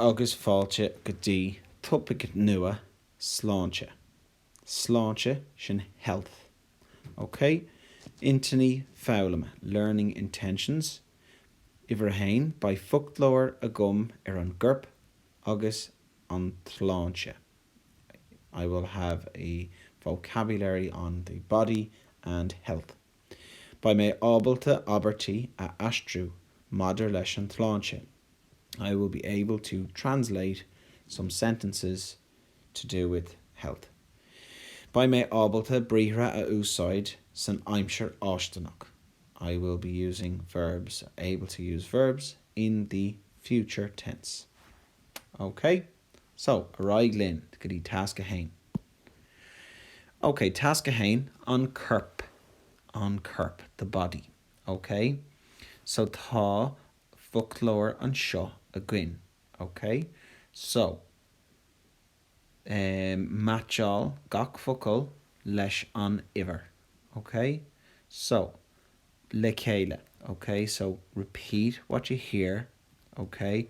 agus fáilte go dtí topaic nua, sláinte. Sláinte, sin health. Ok? Intinní foghlama, learning intentions, uimhir a haon, beidh foclóir agam ar an gcorp agus an tsláinte, I will have a vocabulary on the body and health. Beidh mé ábalta abairtí a aistriú maidir leis an tsláinte, I will be able to translate some sentences to do with health. Beidh mé ábalta briathra a úsáid san aimsir fháistineach, I will be using verbs, able to use verbs, in the future tense. OK? So, ar aghaidh linn go dtí Tasc 1. OK, Tasc 1, an corp. An corp, the body. OK? So, tá foclóir anseo againn. OK? So, em, meaitseáil gach focal leis an uimhir. OK? So, le chéile. OK? So, repeat what you hear. OK?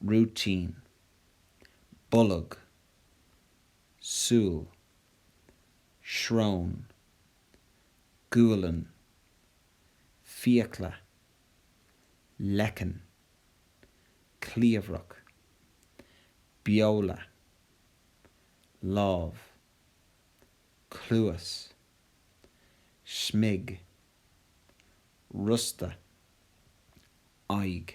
rúitín, bolg, súil, srón, gualainn, fiacla, leiceann, cliabhrach, beola, lámh, cluas, smig, rosta, aghaidh.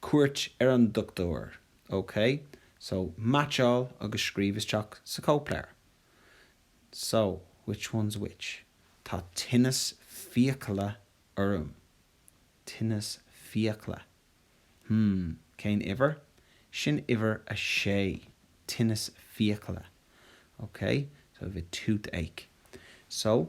cuairt ar an dochtúir. OK? So, meaitseáil agus scríobh isteach sa chóipleabhar. So, which one's which? Tá tinneas fiacla orm. Tinneas fiacla. Hmm, cén uimhir? Sin uimhir a sé. Tinneas fiacla. OK? So, I have a toothache. So,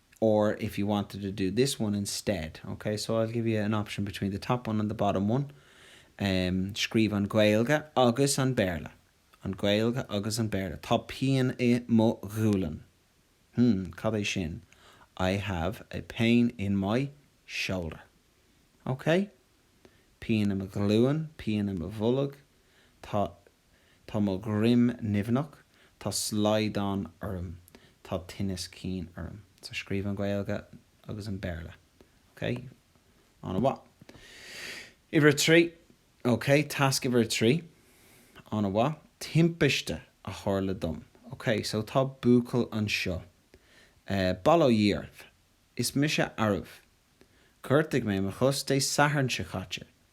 or if you wanted to do this one instead, ok, so I'll give you an option between the top one and the bottom one, em, scríobh an Ghaeilge agus an Béarla, an Ghaeilge agus an Béarla, tá pian i mo ghualainn, hmm, cad é sin? I have a pain in my shoulder, ok, pian i mo ghlúin, pian i mo bholg, tá Tá mo dhroim nimhneach, tá slaghdán orm, tá tinneas cinn orm. So scríobh an Ghaeilge agus an Béarla. Ok? An-mhaith. Uimhir a trí. Ok? Tasc uimhir a trí. An-mhaith. Timpiste a tharla dom. Ok? So tá buachaill anseo. Bail ó Dhia oraibh. Is mise arbh. Ghortaigh mé mo chos Dé Sathairn seo caite.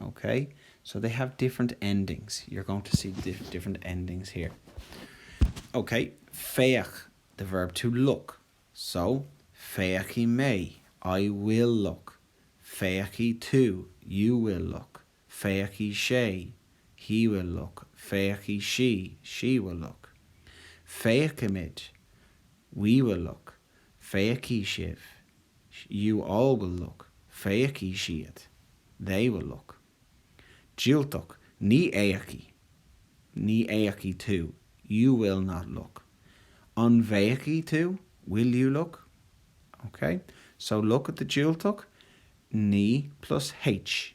OK, so they have different endings, you're going to see different endings here. OK, féach, the verb to look, so féachfaidh mé, I will look, féachfaidh tú, you will look, féachfaidh sé, he will look, féachfaidh sí, she will look, féachfaimid, we will look, féachfaidh sibh, you all will look, féachfaidh siad they will look, diúltach, ní fhéachfaidh ní fhéachfaidh tú you will not look, an bhféachfaidh tú? will you look? ok so look at the diúltach, ní plus h.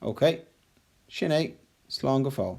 Ok. Sin é. Slán go fóill.